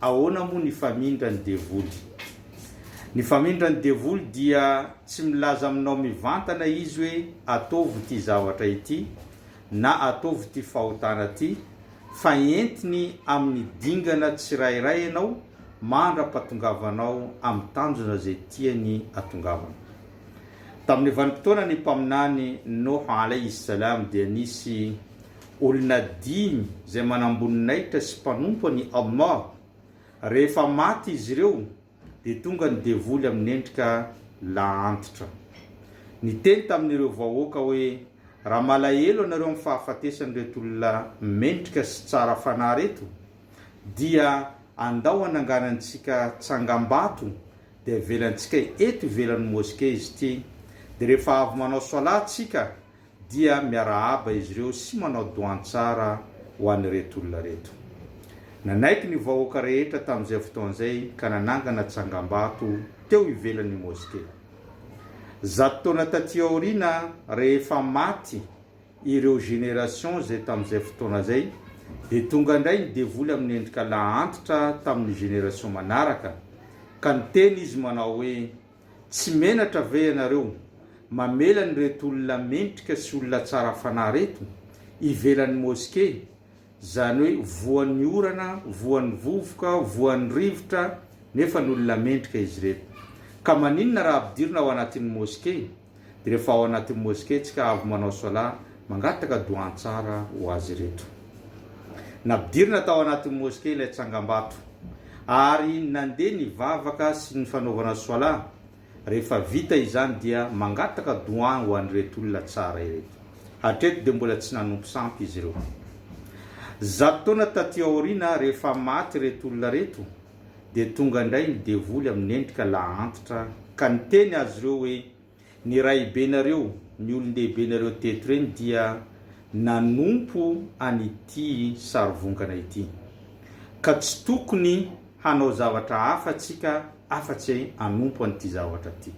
Ahoana moa ny famindra ny devoly? Ny famindra ny devoly dia tsy milaza aminao mivantana izy hoe ataovy ity zavatra ity na ataovy ity fahotana ity fa entiny amin'ny dingana tsirairay ianao mandra-pahatongavanao amin'ny tanjona izay tiany hatongavana. Tamin'ny vanim-potoanan'ny Mpaminany Noha alaihi salam dia nisy Olona dimy izay manamboninahitra sy mpanompo an'i Allah. Rehefa maty izy ireo, dia tonga ny devoly amin'ny endrika laantitra. Niteny tamin'ireo vahoaka hoe, Raha malahelo ianareo amin'ny fahafatesan'ireto olona mendrika sy tsara fanahy ireto, dia andao ananganantsika tsangambato dia avelantsika eto ivelan'ny moske izy ity, dia rehefa avy manao solat tsika dia miarahaba izy ireo sy manao doan tsara ho an'ireto olona ireto. Nanaiky ny vahoaka rehetra tamin'izay fotoana izay ka nanangana tsangambato teo ivelan'ny moske. Zato taona taty aoriana rehefa maty ireo générations izay tamin'izay fotoana izay dia tonga indray ny devoly amin'ny endrika lahantitra tamin'ny génération manaraka ka niteny izy manao hoe, Tsy menatra ve ianareo mamela an'ireto olona mendrika sy olona tsara fanahy ireto ivelan'ny moske, izany hoe voan'ny orana, voan'ny vovoka, voan'ny rivotra, nefa ny olona mendrika izy ireto. Ka maninona raha ampidirina ao anatin'ny moske? Dia rehefa ao anatin'ny mosquée tsika avy manao solat, mangataka doa tsara ho azy ireto. Nampidirina tao anatin'ny mosquée ilay tsangambato ary nandeha ny vavaka sy ny fanaovana solat, rehefa vita izany dia mangataka doa ho an'ireto olona tsara ireto. Hatreto dia mbola tsy nanompo sampy izy ireo. Zato taona taty aoriana rehefa maty ireto olona ireto, dia tonga indray ny devoly amin'ny endrika lahantitra ka niteny azy ireo hoe, Ny rahibenareo, ny olon-dehibenareo teto ireny dia nanompo an'ity sarivongana ity, ka tsy tokony hanao zavatra hafa isika afa-tsy hanompo an'ity zavatra ity.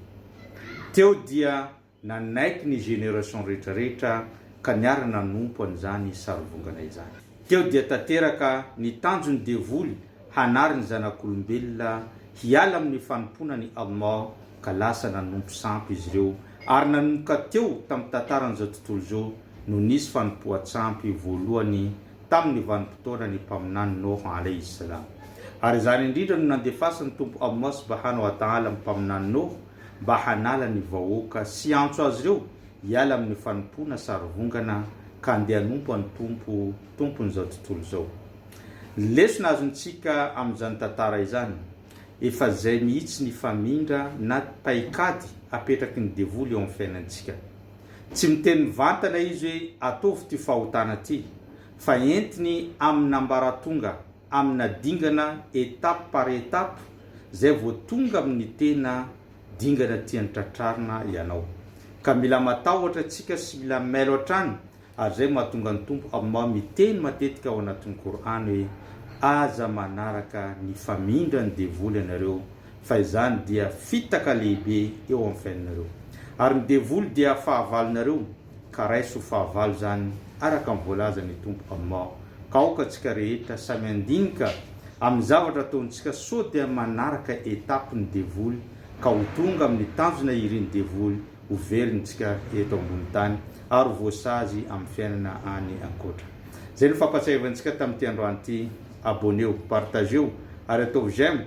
Teo dia Nanaiky ny génération rehetra rehetra ka niara nanompo an'izany sarivongana izany. Teo dia tanteraka ny tanjon'ny devoly hanary ny zanak'olombelona hiala amin'ny fanompoana an'i Allah ka lasa nanompo sampy izy ireo ary nanomboka teo tamin'ny tantaran'izao tontolo izao no nisy fanompoan-tsampy voalohany tamin'ny vanim-potoanan'ny Mpaminany Noha alayhi salam ary izany indrindra no nandefasan'ny Tompo Allah subahana wa ta'ala ny Mpaminany Noha mba hanala ny vahoaka sy hiantso azy ireo hiala amin'ny fanompoana sarivongana ka handeha hanompo an'i Tompo, Tompon'izao tontolo izao. Ny lesona azontsika amin'izany tantara izany, efa izay mihitsy ny famindra na paikady apetraky ny devoly eo amin'ny fiainantsika. Tsy miteny mivantana izy hoe ataovy ity fahotana ity, fa entiny amin'ambaratonga. amina dingana étape par étape zay vao tonga amin'ny tena dingana tiany tratrarina ianao. Ka mila matahotra tsika sy mila mailo hatrany ary zay mahatonga ny Tompo Allah miteny matetika ao anatin'ny Kor'any hoe, Aza manaraka ny famindran'ny devoly ianareo fa izany dia fitaka lehibe eo amin'ny fiainanareo. Ary ny devoly dia fahavalonareo. ka raiso fahavalo izany araka ny voalazan'ny Tompo aminao, ka aoka antsika rehetra samy handinika amin'ny zavatra ataontsika sao dia manaraka étape ny devoly ka ho tonga amin'ny tanjona irin'ny devoly ho velontsika eto ambony tany ary ho voasazy amin'ny fiainana any ankoatra. Izay no fampatsiahivantsika tamin'ity androany ity, abonnez-o, partagez-o ary ataovy j'aime,